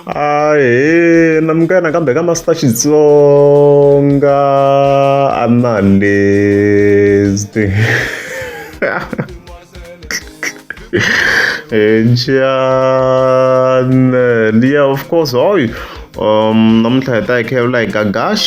ahe na minka yena kambe ka master xitsonga a na lesti njhani eh, liya of course hoy um namuntlha hi ta hi khevula hi gagash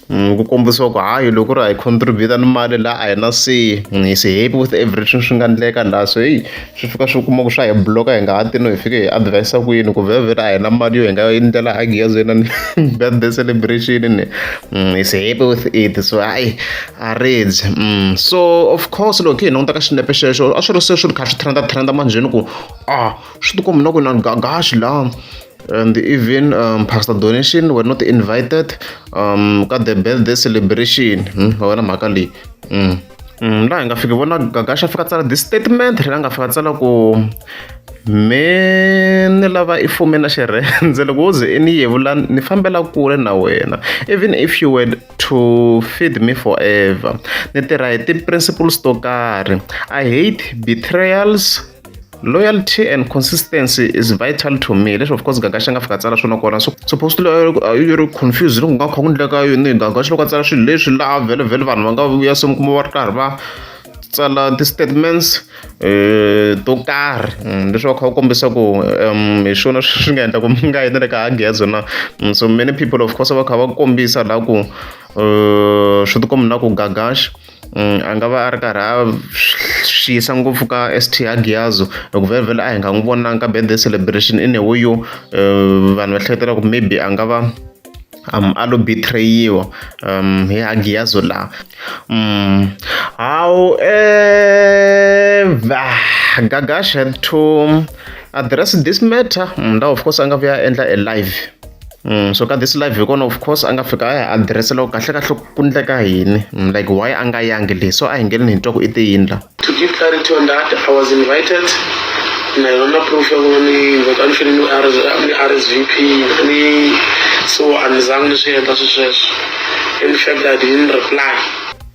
ku kombisiwa ku hayi loko ku ri hi contribute ni mali la a hi na se hi se happy with everything swi nga endleka laha so heyi swi fika swi kuma ku swa hi block-a hi nga ha ti no hi fike hi advise ku yini ku vhevhela a hi na mali yo hi nga endlela hagi ya zena ni birthday celebration ni mm, hi se happy with it so hayi a ridzi mm, so of course loko hi languta ka xinepe xexo a swi ri se swi ri kha swi trenda trenda manjheni ku a ah, swi tikombi na ku na gagaxi laha and even um, pastor donation were not invited um, ka the birthday celebration hmm? va vona mhaka leyi hmm. hmm, laha hi nga fiki vona gagasha fika tsala this statement ri nga fika tsala ku me ni lava i fume na xirhendze loko wo ze i ni yevula ni fambela kule na wena even if you were to feed me forever ni tirha hi ti-principles to karhi i hate betrayals loyalty and consistency is vital to me leswi of course gaga xi nga fika tsala swona kona so supposed to you ri confused loko nga kha ku ndleka yini gaga xi loko a tsala swilo leswi laha vhele vhele vanhu va nga vuya se mi kuma va ri karhi va tsala ti-statements um to karhi mm, leswi va kha va kombisa ku um hi swona swi nga endla ku mi nga yini le ka hagezo na mm, so many people of course va kha va kombisa laha ku um swi tikombi na ku gagaxa Mm, a nga va a ri karhi a swi yisa ngopfu ka st agiazo loko vhele a hi nga n'wi vonanga ka birthday celebration in a way yo eh, vanhu va hleketela ku maybe a nga va um a lo betrayiwa um hi agiazo laha um however gagash had to address this matter um, of course a nga vuya a endla a live Mm, so ka this live hi kona of course a nga fika a ya adirese loko kahle kahle ku ndleka yini mm, like why a nga yangi leyi so a hi ngeleni hi twa ku i tiyindla to give clarity on that i was invited na yona proof ya kona ni invite a ni fele ni rsvp ni so a ni zangi ni swi endla swi sweswo in fact i didn't reply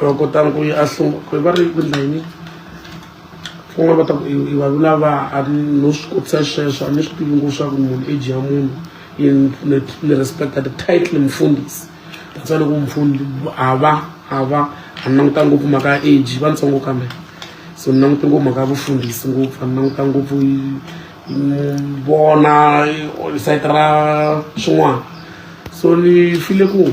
va kotanga ku a sungula va ri ku endla yini kun'wana va ta ku i vanhu lava a ri no swi kotisa sweswo a ni swi tivi ngopfu swa ku munhu age ya munhu ni respecta the title mfundhisi that's why loko mfundi a va a va a ni languta ngopfu mhaka ya age va ntsongo kambe so ni languta ngopfu mhaka ya vufundhisi ngopfu a ni languta ngopfu vona site ra swin'wana so ni file ku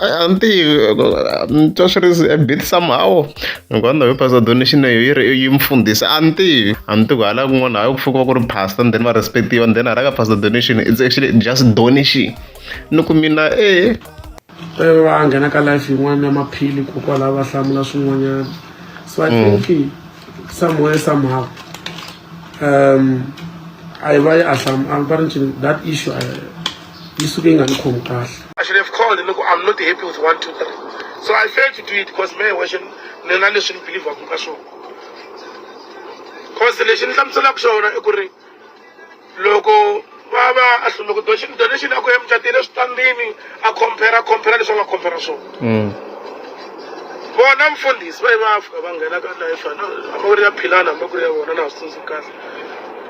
a ni tivi ni twa swi ri a bit somehow hikuva ndhawu yo pastor donation leyo yi ri yi mfundhisi a ni tivi a ni tivi ku hala kun'wana hayi ku fukiwa ku ri pastor and then va respect-iwa and then hala ka pastor donation it's actually just donation ni ku mina e va nghena ka life yin'wana ya maphili kokwalaho va hlamula swin'wanyana so i mm. think somewhere somehow um a yi va yi a hlam a va ri ncini that issue yi suke yi nga ni khomi kahle I should have called look I'm not happy with one two three so I failed to do it because me wexe ni na leswi ni believaku ka swona cause lexi ni hlamuselaka xona i ku ri loko va va a hlule ku donation donation a ku ya mucatile eswitandini a compare a compare leswi a nga compare swona mm. vona mfundhisi va yi va fika va nghena ka life a ku ri ya philana hambi ku ri ya vona na ha swi tsundzuki kahle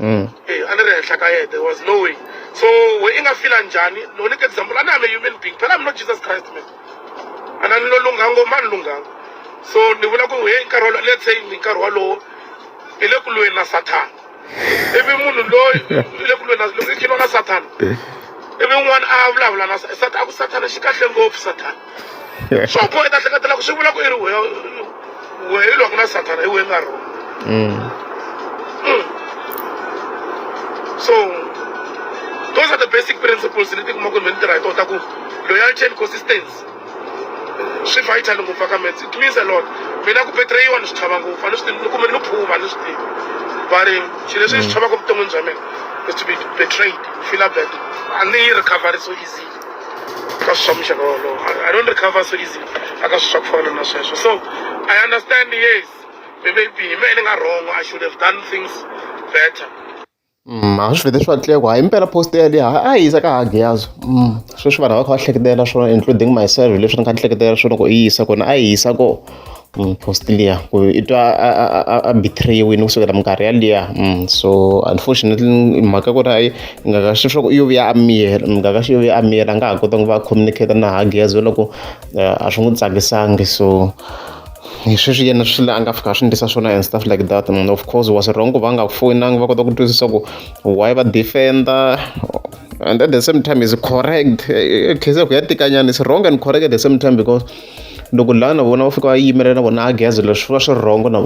Mm. Eh, a ni ri henhla ka yena there was no way so we i nga fila njhani no ni ke example a ni ame human being phela mi no jesus christ man a na ni lo lunghanga ngoma a ni lunghanga so ni vula ku he nkarhi wolowo let's say ni nkarhi wolowo i le ku lweni na sathana ivi munhu loyi i le ku lweni na loko i khiniwa na sathana ivi n'wana a vulavula na sa- sat- a ku sathana xi kahle ngopfu sathana swa boha i ta hleketela ku swi vula ku i ri wehe wehe i lwaka na sathana hi wehe nga rona mm. mm. so those are the basic principles leti kuma ku ni ni tirha hi tona ta ku loyalty and consistency swi vital ngopfu aka mats it means a lot mina ku betrayiwa ni swi chava ngopfu a ni swi tivi kumbe ni phuma ni swi tivi but xilo leswi ni swi mm. chavaka evuton'wini bya mina is to be betrayed feel bad a ni yi recovery so easy ka swi swa muxaka wolowo i don't recover so easy aka swi swa ku fana na sweswo so i understand yes maybe hi mehe ni nga wrong i should have done things better Mm, a swi vete swi vatile ku hayi impela post yaleyo ha a yi yisa ka hagi yazo mm, sweswi vanhu va kha va hleketela swona including myself leswi ni kha ni hleketela swona ku yi yisa kona a yi yisa ko mupostoli ya ku i twa a a a a betrayiwini kusukela minkarhi yaliya mm, so unfortunately mhaka ku ri hayi ngaka xi swa ku yo vuya a miyela ngaka xi yo vuya a miyela a nga ha kota ku va communicate na hagi ya loko eh, a swi n'wi tsakisangi so hi sweswi yena swi a nga fika swi ndlisa swona and stuff like that and of course was wrong ku va nga ku foyinangi va kota ku twisisa ku why va defender and at the same time is correct eh, eh, case ya ku ya tikanyana is wrong and correct at the same time because loko laha na vona va fika va yimela na vona gezi leswi swi va swi rhongo na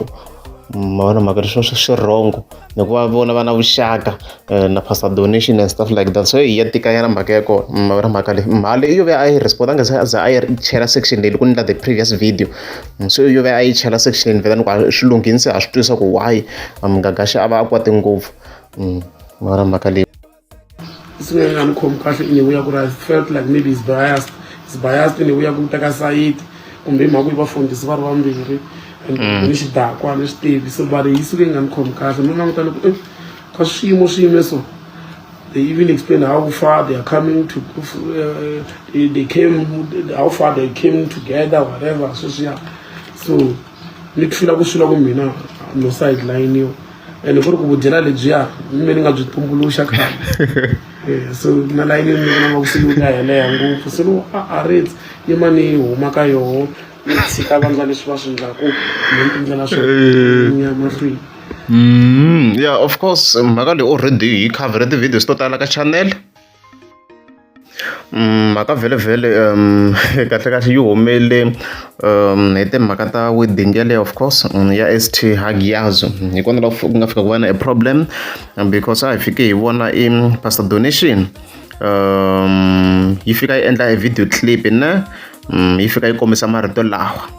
ma vona mhaka leswi swi swi rhongo hikuva vona va na vuxaka eh, na pastor donation and stuff like that so hi ya tikanyana mhaka ya kona ma vona mhaka leyi mhali yo ve a yi respondanga se za a yi chela section leyi loko ni la the previous video mm, so yo ve a yi chela section leyi ni vela ni ku ah, swi lunghini se ha swi twisa ku why mgagaxa a va a kwate ngopfu mm, ma vona mhaka leyi singeke nga ni khomi kahle in a way ya ku ri i felt like maybe is biased is biased in a way ya ku ta ka sayiti kumbe hi mhaka yi vafundhisi va ri vambirhi and mm. ni xidakwa ni swi tivi so va ri yi suke yi nga ni khomi kahle no languta loko eh, ka swiyimo swi yime so they even explain how far they are coming to uh, they, they came how far they came together whatever so sweswiya so ni ku fila ku swila ku mina no sideline yo ene ku ri ku vudyela lebyiya mi ni nga byi tumbuluxa khale eh, so na layini mi vona nga ku se yi nga heleha ngopfu se loko a a ritsi yima ni huma ka yoho ni tshika vandla leswi va swi ndlaku ni tindlela swo eh. ya mahlweni mm, yeah of course mhaka leyi already yi cover ti-videos to tala ka channel Mhaka vhele kahle kahle yi humele hi timhaka ta wedding yeleyo of course ya S_T Hagiyaz-u hi kona la ku nga fika ku va na e problem because a hi fike hi vona i pastor Donation yi fika yi endla e video clip ne yi fika yi kombisa marito lawa.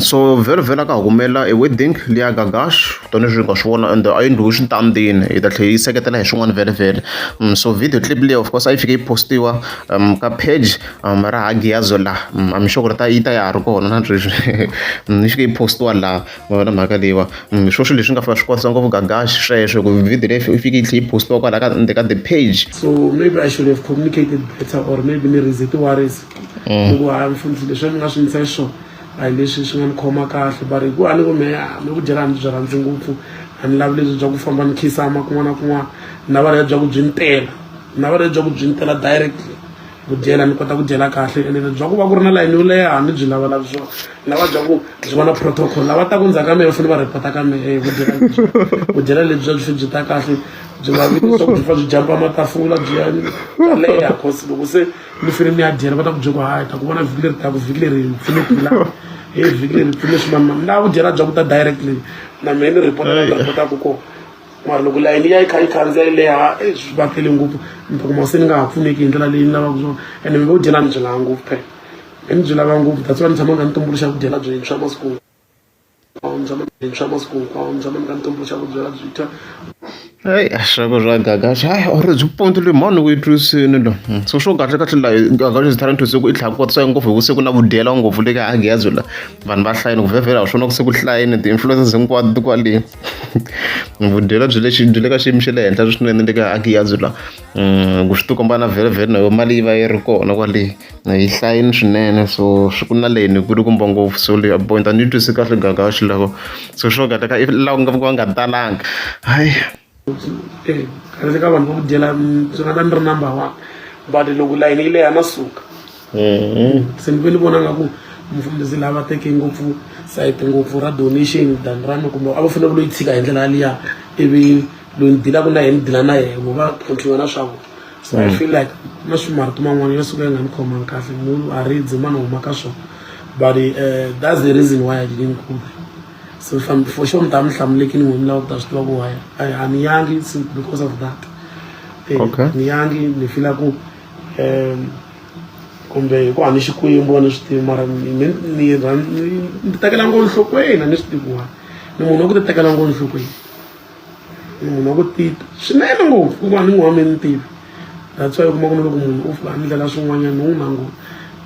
So vhelovhelo a ka ha ku humelela e wedding liya ka Gash tanihileswi hi nga swi vona ende a yi ndlhula exitandini hi ta tlhela yi seketela hi swin'wana vhelovhelo so video clip liya of course a yi fike yi post-iwa ka page ra ha Giyazwe laha I'm sure ku ri ta yi ta ya ha ri kona na sweswi yi fike yi post-iwa laha ma vona mhaka leyiwa hi swo swilo leswi nga fika swi kwatisa ngopfu ka Gash sweswo hi ku video leyi yi fike yi tlhela yi post-iwa kwala ka ka the page so maybe I should have communicated better or maybe ni raise ti-worries. hikuva mm. a mi fundzi leswi a mi nga swi ndlisa xiswona a hi leswi swi nga ni khoma kahle but hi ku a ni ku me mi ku dyela a ni byi rhandzi ngopfu a ni lavi lebyi bya ku famba ni khisama kun'wana na kun'wana na va bya ku byi ni tela na va bya ku byi ni tela directly ku dyela ni kota ku dyela kahle ene bya ku va ku ri na layini yo leha a ni byi lavalavi swona na va bya ku byi va na protocol lava ta ku ndzhaku ka mehe fanele va repota ka mehe ku dyela ku dyela lebyi bya byi byi ta kahle byi nga vi leswaku byi fa byi jampa matafula byi ya leha cause loko se ni fane ni ya dyela va ta ku byela ku hayi ta ku vona vhiki leri taku vhiki leri pfune phila he vhiki leri pfune swimama na ku dyela bya ku ta directly na mehe ni report na reportaku ko mara loko layini ya yi kha yi khandziya yi leha e swi va tele ngopfu ni ta kuma se ni nga ha pfuneki hi ndlela leyi ni lavaka swona ene mi vo dyela ni byi lava ngopfu phela mi byi lava ngopfu that's why ni tshama nga ni tumbuluxa ku dyela byintshwa masiku Hayi a swi ri swa gaga hayi or byi pondzile hi mhani weyi twisini lo so swo kahle kahle la gaga is trying to say ku i tlhela ku kotisa ngopfu hi vusiku na vudyela ngopfu le ka Agiyaz la vanhu va hlayile ku vhevhela hi swona ku se ku hlayile ti-influences hinkwato ti kwale vudyela byi le byi le ka xiyimo xa le henhla swinene le ka Agiyaz la ku swi ti komba na vhele vhele na yo mali yi va yi ri kona kwale. a yi hlayini swinene so swi ku na leyi ni ku ri kumba ngopfu so leyi a point a ni yi twisi kahle gaka ya xiloko so swo ka teka i laha ku nga va nga talanga hayi kahle ka vanhu va ku dyela byi nga ta ni ri number one but loko layini yi leha na suka mm-hmm. se ni ve ni vona nga ku mufundhisi lava teke ngopfu sayiti ngopfu ra donation than ra ni kumbe a va fanele ku loyi tshika hi ndlela yaliya ivi loyi ni dilaka na yena ni dila na yena va tlhontlhiwa na swa vona so mm. i feel like na swimarito man'wana ya suka ya nga ni khomangi kahle munhu a ridzi mani huma ka swona but uh, that's the reason why i didn't go there so for sure ni ta mi hlamulekini n'we mi lava ku ta swi tiva ku waya a ni yangi because of that eh, okay. ni yangi ni fila ku um kumbe hi ku a ni xikwembu a ni swi tivi mara ni tekela ngo nhlokweni a ni swi tiviwani ni munhu wa ku ti tekela ngo nhlokweni munhu wa ku tita swinene ngopfu ku va ni n'wi wa mi ni tivi that's why u kuma ku ni loko munhu u fika ni ndlela swin'wanyana ni n'wi languta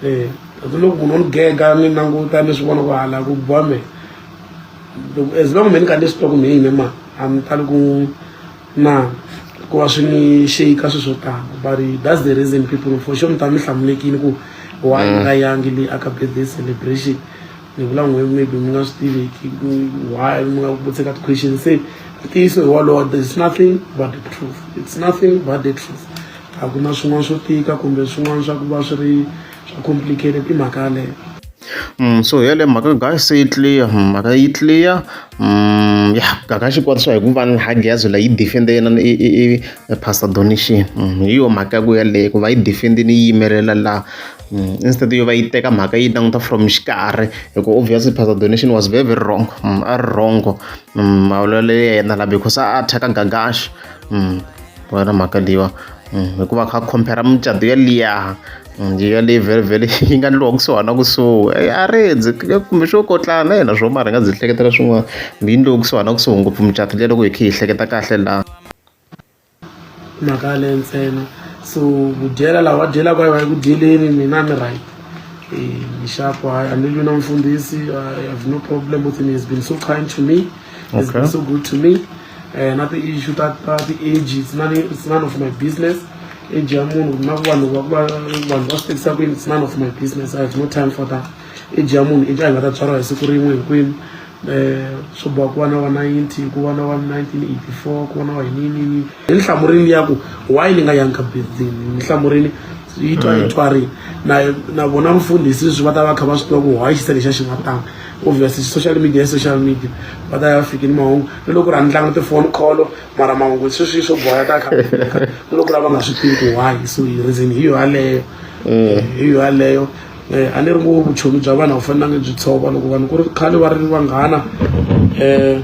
um eh, that's loko munhu o ni gega ni languta ni swi vona ku hala ku biwa me as long me ni ka ni swi twa ku ni yine ma a ni tali ku na ku va swi ni sheyika swi swo tala but that's the reason people for sure mi ta mi hlamulekini ku why ni nga mm. yangi leyi aka birthday celebration ni vula n'we maybe mi nga swi tivi why mi nga vutise ka ti-question se ntiyiso hi wolowo there is nothing but the truth it's nothing but the truth a ku na swin'wana swo tika kumbe swin'wana swa ku va swi ri swa complicated i mhaka yaleyo Mm, so yale mhaka gaga se yi clear mm, mhaka yi clear mm, ya gaga xi kwatiswa hi ku va ni hagiyazo la yi defende yena i pastor donation hi yo mhaka ya ku yaleyo ku va yi defende ni yi yimelela laha instead yo va yi teka mhaka yi languta from xikarhi hi ku obviously pastor donation was very very wrong mm, a ri wrongo mm, mavulelo ya yena la because a athaka gagaxi mm, wena mhaka leyiwa hikuva kha compare mucato ya liya ya leyi very very yi nga ndliwa kusuhana kusuhi a redzi kumbe swo kotlana na yena swo mara hi nga byi hleketela swin'wana yi ndliwa kusuhana kusuhi ngopfu mucato liya loko hi khe hi hleketa kahle laha mhaka yaleyo ntsena so ku dyela laha va dyelaka va ku dyeleni mina ni right nxaku hayi a ni lwi na mfundhisi i have no problem with him he's been so kind to me he's been so good to me um na ti-issue ta ta ti-age it's none, it's none of my business age ya munhu na ku vanhu vanhu va swi tekisa kwini it's none of my business i have no time for that age ya munhu i nga ta byariwa hi siku rin'we hinkwenu swa ku va na wa ninety ku va na wa nineteen eighty four ku va na wa yiniyini hi nhlamurini ya ku why ni nga yangi ka birthday ni nhlamurini yi twa yi twarini na na vona mfundhisi sweswi va ta va kha va swi tiva ku why xisa lexa xi nga tanga obviously social media ya social media va ta ya fiki ni mahungu ni loko ri handlanga tifoni kholo mara mahungu sweswi swo boya ta kha ni loko lava nga swi tivi ku why so reason hi yo yaleyo hi yo yaleyo um a ni ri ngo vuchomi bya vanhu a wu fanelanga byi tshova loko vanhu ku ri khale va ri vanghana um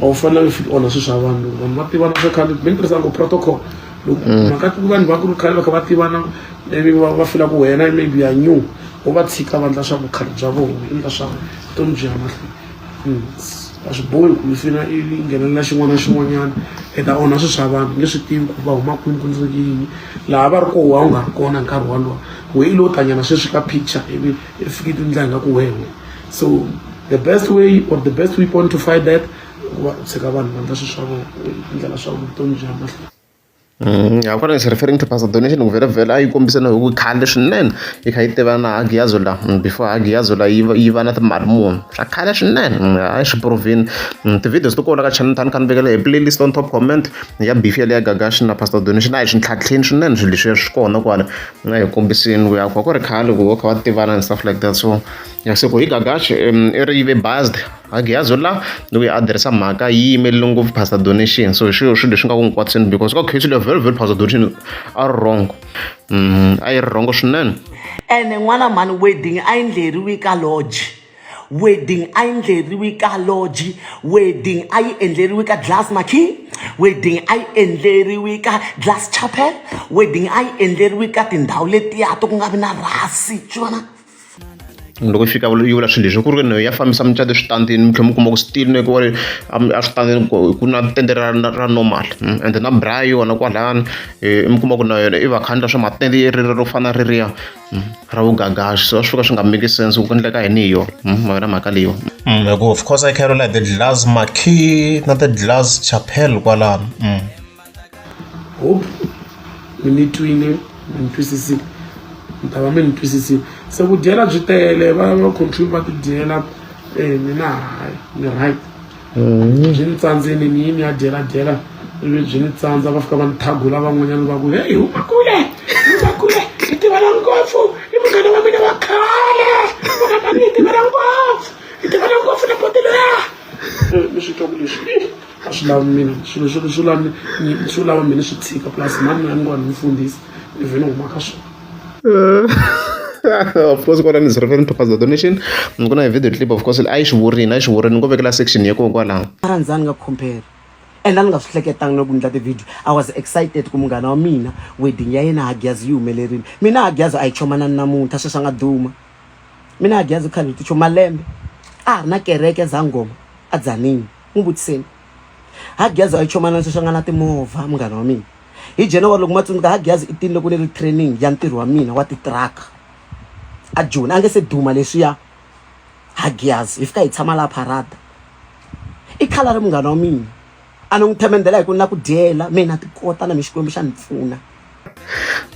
a wu fanelanga fika onha swilo swa vanhu loko vanhu va tivana swa khale mi ni tirhisa ngo protocol loko mm. mhaka ku vanhu va ku ri khale va kha va tivana ivi va fila ku wena maybe ya new u va tshika vandla swa vukhale bya vona endla swa vutomi byi ya mahlweni a swi bohi ku mifina i nghenelela xin'wana na xin'wanyana i ta onha swilo swa vanhu nge swi tivi ku va huma kwini ku ndzi yini laha va ri koho wa u nga ri kona nkarhi wolowo we i lo tanyana sweswi ka picture ivi i fike i tindla nga ku wehe so the best way or the best weapon to fight that ku va u tshika vanhu va ndla swilo swa vona ndlela swa vutomi bya mahlweni ya ku ri referring to pastor donation ku vhela vhela a yi kombisa na hi ku khale swinene yi kha yi tiva na Hagiyazo la before Hagiyazo la yi va yi va na timali muni swa khale swinene a swi provini ti-videos to kona ka channel ta ni kha ni vekela hi playlist on top comment ya beef ya le ya gagashi na pastor donation a hi swi ntlhantlheni swinene swilo leswiya swi kona kwala na hi kombisini ku ya ku va ku ri khale ku va kha va tivana and stuff like that so ya se ku hi gagashi i ri yive based. Hagiyazo la loko a tirhisa mhaka yi yimelele ngopfu pastor donation so hi swilo swilo leswi nga ku nkwati swinene because ka case leyo very very pastor donation a ri wrong mm, a yi ri wrong swinene ene n'wana mhani wedding a yi ndleriwi ka lodge wedding a yi ndleriwi ka lodge wedding a yi endleriwi ka glass maki wedding a yi endleriwi ka glass chapel wedding a yi endleriwi ka tindhawu letiya to ku nga vi na rhasi swi vona loko yi fika yi vula swilo leswi ku ri ya fambisa mucato eswitandini mi tlhela mi kuma ku switini ku ri eswitandini ku na tende ra ra normal hmm? and na bra yona kwalani eh, mi kuma ku na yona i vakhandla swa matende yi ri ro fana ririya hmm? ra vugagaxi so swi fika swi nga make sense ku endleka yini hi yona hmm? ma yona mhaka leyo hikuva of course i carolite the glass marquee na the glass chapel kwalano hope mi ni twile mi ni twisisile mi ta va mi ni twisisile se ku dyela byi tele va va control va ti dyela um mi na hayi ni right mm-hmm. byi ni tsandzeni ni yini ya dyela dyela ivi byi ni tsandza va fika va ni thagula van'wanyana va ku heyi huma kule huma kule i tivela ngopfu i munghana wa mina wa khale munghana i tivela ngopfu i tivela ngopfu na botelo ya mi swi twa ku leswi a swi lavi mina swilo swi swi lavi swi lava mina swi tshika plus mhani ya ni kona ni fundisa ni vhe ni huma ka swona of course kona is referring to pastor donation ni ku na video clip of course a yi swi vurini a yi swi vurini ni ko vekela section ya kokwalaho a ra ndzani nga compare and a ni nga swi hleketanga loko ni ndla ti-video i was excited ku munghana wa mina wedding ya yena hagyazi yi humelerile mina hagyazi a yi chomanani namuntlha sweswi a nga duma mina hagyazi khale ti cho malembe a ha ri na kereke zangoma a dzanini n'wi vutiseni hagiyazi a yi chomana sweswi a nga na timovha munghana wa mina hi january loko ma tsundzuka hagiyazi i tini loko ni ri training ya ntirho wa mina wa titiraka a joni a nge se duma leswiya hagiyazi hi fika hi tshama laha parada i khala ri munghana wa mina a ni n'wi themendela hi ku na ku dyela mina ti kota na mi xikwembu xa ni pfuna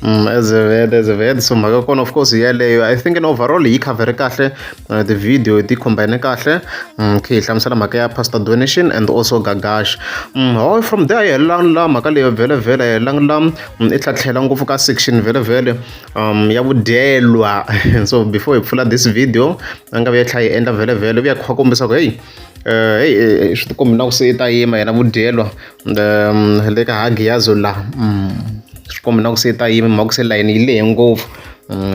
Mm, as a vet as a vet so mhaka kona of course yaleyo i think in overall yi covere kahle uh, the video ti combine kahle mm, okay hi hlamusela mhaka ya pastor donation and also gagash mm, ho oh, from there yelela la mhaka leyo vhele vhele yelela la mm, i tlhatlhela ngopfu ka section vhele vhele um ya vudyelwa so before hi pfula this video a nga vi ya tlhela yi endla vhele vhele u ya kha kombisa ku heyi um eh, heyi eh, eh, swi tikombi na ku se i ta yima yena vudyelwa le ka ha Giyazi u la swi komba na ku se ta yimi mhaka se layeni yi lehe ngopfu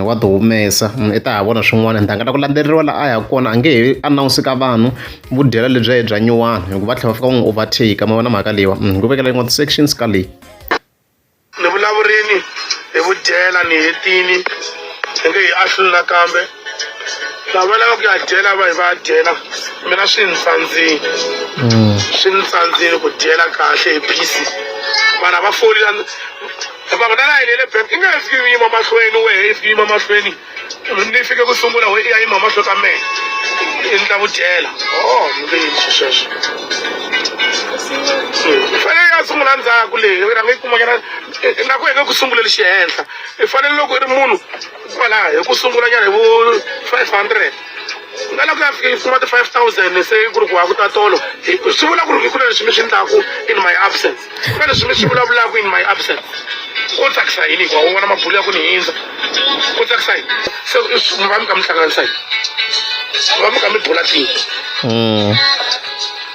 wa ti humesa i ta ha vona swin'wana ntanga ta ku landzeriwa laha a yaka kona a nge he announce ka vanhu vu dyela lebyi ya bya nyuwana hikuva tlhela va fika va n'wi overtake ma vona mhaka leyiwa ku vekela yin'wana ti-sections ka leyi. Ni vulavurini hi vudyela ni hetini hi nge hi ahluli nakambe lava va lava ku ya dyela va hi va ya dyela mina swi ni tsandzini mm. swi ni tsandzini ku dyela kahle hi phisi vanhu a va foli hikuva na la yinele bank i nge he fiki yima mahlweni wehe i fiki yima mahlweni ni fike ku sungula we ya yima mahlo ka mehe i ndla ku dyela o ntiyiso sweswo i fanele ya sungula ndzhaku leyi i rhanga yi kumanyana na ku henge ku sunguleli xihenhla i fanele loko i ri munhu kwalaha hi ku sungulanyana hi vo five hundred nga la ku ya fika yi fuma ti-five thousand se ku ri ku wa ku ta tolo swi vula ku ri hi ku leswi mi swi ndlaku in my absence na leswi mi swi vulavulaka in my absent ko tsakisa yini hikuva u vona mabulo ya ku ni hindza ko tsakisa yini se mi va mi kha mi hlanganisa yini mi va mi kha mi bula tini hmm.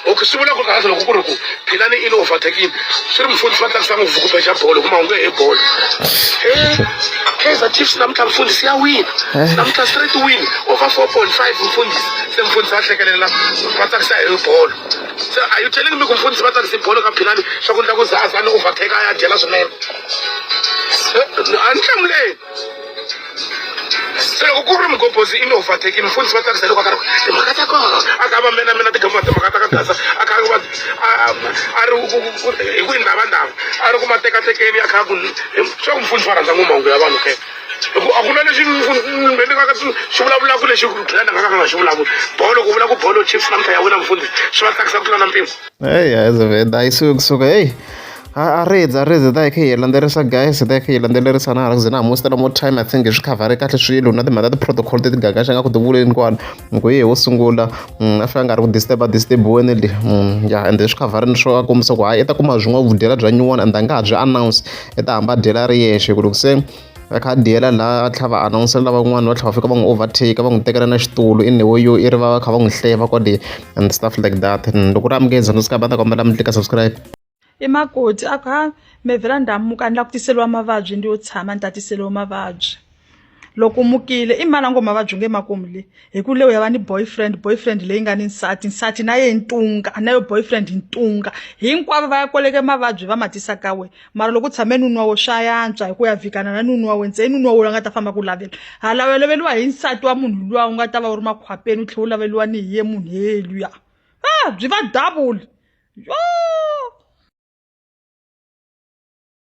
okay swi vula ku kahle loko ku ri ku philani i le overtakini swi ri mufundhisi va tsakisa ngopfu ku beja bolo kuma hunge hi bolo kaizer chiefs namuntlha mfundhisi ya wina eh. namuntlha straight win over four point five mfundhisi se mfundhisi va hlekelela va tsakisa hi bolo So, are you telling me ku mfundhisi va tsakise bolo ka philani swa ku ndla ku zaza ni overtake a ya dyela swinene Se, a ni hlamuleni se loko ku ri mugobhozi i ni overtake mfundhisi va tsakisa loko a karhi timhaka ta kona a ka va mena mina tigamba timhaka ta ka gaza a kha va a- a ri ku- ku- ku- hi ku yi ndhavandhava a ri ku matekatekeni a kha ku swa ku mfundhisi va rhandza ngomahungu ya vanhu ke hi ku a ku na lexi ni nga ka xi vulavulaka lexi plan a nga ka nga xi vulavuli bolo ku vula ku bolo chiefs namuntlha ya wina mufundhisi swi va tsakisa ku tlula na mpimo eyi azaveda a yi suki kusuka eyi a rezi a rezi ta hi kha hi landzelerisa guys ta hi kha hi landzelerisa na hala ku ze na ha mositela more time i think hi swi khavhare kahle swilo na timhaka ta ti-protocol ti tigagaxa nga ku tivuleni kwani hi ku ye wo sungula mm, a fika a nga ri ku disturba disturbiweni le mm, ya ende swi khavharini swo a kombisa ku hayi i ta kuma byin'wana vudyela bya nyuwana ende a nga ha byi announce i ta hamba a dyela a ri yexe ku loko se a kha a diyela laha a tlhava anawunsela lavan'wana va tlhava fika va n'wi overtake va n'wi tekela na xitulu i newo yo i ri va va kha va n'wi hleva kwale and stuff like that hmm, loko ri amukeza no sikaba ta kombela mi tlika subscribe i makoti a ku ha mevhela ndamuka ni la ku tiseliwa mavabyi ndi yo tshama ni tatiseliwa mavabyi loko mukile i mani a ngo mavabyi nge makumu le hi ku leyi ya va ni boyfriend boyfriend leyi nga ni nsati nsati na ye ntunga na yo boyfriend hi ntunga hinkwavo va ya koleke mavabyi va matisa ka we mara loko u tshame nunwa wo swa yantswa hi ku ya vikana na nunwa we ntseni nunwa wo la nga ta famba ku lavela hala u loveliwa hi nsati wa munhu luwa u nga ta va u ri makhwapeni u tlhela u laveliwa ni hi ye munhu heluya a byi va double yoo